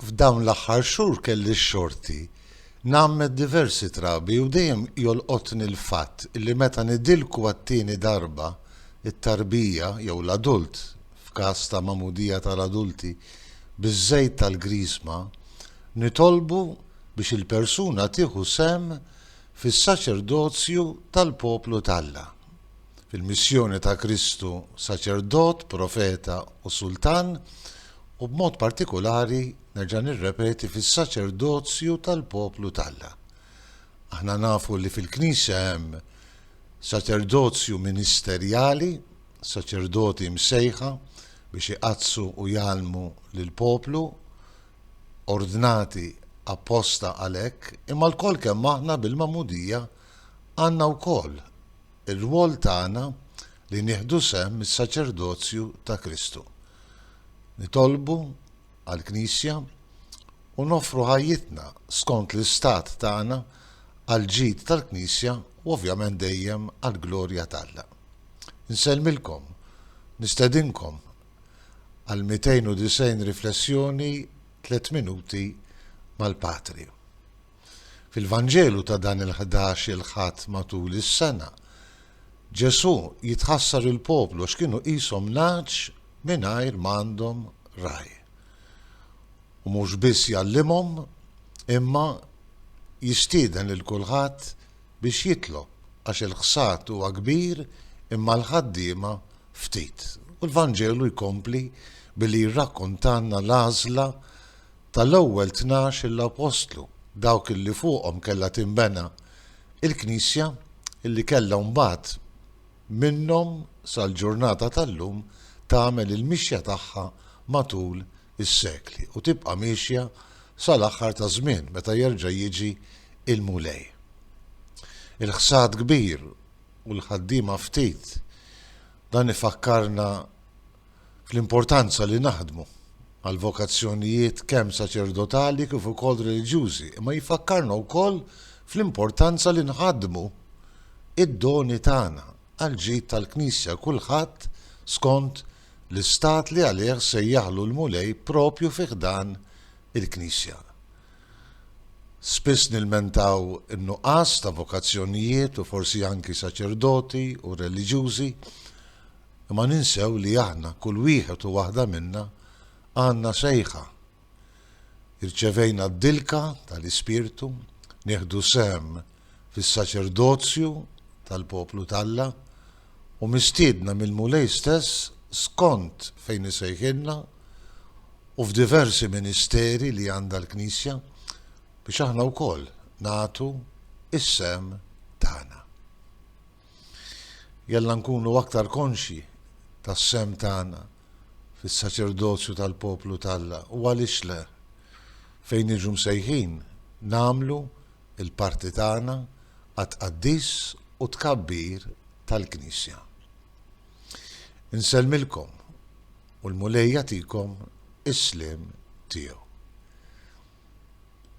F'dawn l-aħħar xhur kelli x-xorti ngħammed diversi trabi u dejjem jolqotni l-fatt li meta nidilku għat-tieni darba, it-tarbija, jew l-adult, f'każ ta' magħmudija tal-adulti, biż-żejt tal-Griżma, nitolbu biex il-persuna tieħu sehem fis-saċerdozju tal-poplu t'Alla. fil-missjoni ta' Kristu Saċerdot, Profeta u Sultan, u b'mod partikulari, nerġa' nirrepeti, fis-saċerdozju tal-poplu t'Alla. Aħna nafu li fil-Knisja hemm saċerdozju ministerjali, saċerdoti msejħa biex iqaddsu u jgħallmu lill-poplu, ordnati apposta għalhekk, imma lkoll kemm aħna bil-magħmudija għandna wkoll Ir-rwol tagħna li nieħdu sehem mis-saċerdozju ta' Kristu, nitolbu għall-Knisja u noffru ħajjitna skont l-istat tagħna għall-ġid tal-Knisja u ovvjament dejjem għall-glorja t'Alla. Insellmilkom, nistedinkom għall-290 riflessjoni tliet minuti mal-Patri. Fil-Vanġelu ta' dan il-ħdax-il Ħadd matul is-sena, Ġesù jitħassar il-poplu għax kienu qishom nagħaġ mingħajr m'għandhom ragħaj. U mhux biss jgħallimhom, imma jistieden lil kulħadd biex jitlob, għax il-ħsad huwa kbir imma l-ħaddiema ftit. U l-Vanġelu jkompli billi jirrakkontalna l-għażla tal-ewwel tnax l-Appostlu, dawk illi fuqhom kellha tinbena l-Knisja, illi kellha mbagħad minnhom sal-ġurnata tal-lum tagħmel il-mixja tagħha matul is-sekli u tibqa' miexja sal-aħħar taż-żmien meta jerġa' jiġi l-Mulej. Il-ħsad kbir u l-ħaddiema ftit, dan ifakkarna fl-importanza li naħdmu għall-vokazzjonijiet kemm saċerdotali kif ukoll reliġjużi, imma jfakkarna wkoll fl-importanza li nħaddmu id-doni tagħna għall-ġid tal-Knisja kulħadd skont l-istat li għalih sejjaħlu l-Mulej proprju fi ħdan il-Knisja. Spiss nilmentaw in-nuqqas ta' vokazzjonijiet u forsi anki saċerdoti u reliġjużi, Imma ninsew li aħna, kull wieħed u waħda minna, għandna sejħa. Irċevejna d-dilka tal-Ispirtu, nieħdu sehem fis-saċerdozju tal-poplu t'Alla, u mistiedna mill-Mulej stess skont fejn isejħilna u f'diversi ministeri li għandha l-Knisja, biex aħna wkoll nagħtu s-sehem tagħna. Jalla nkunu aktar konxji tas-sehem tagħna fis-saċerdozju tal-poplu t'Alla u għaliex le, fejn niġu msejħin nagħmlu l-parti tagħna għat-tqaddis u t-tkabbir tal-Knisja. Insellmilkom u l-Mulej jagħtikom is-sliem tiegħu.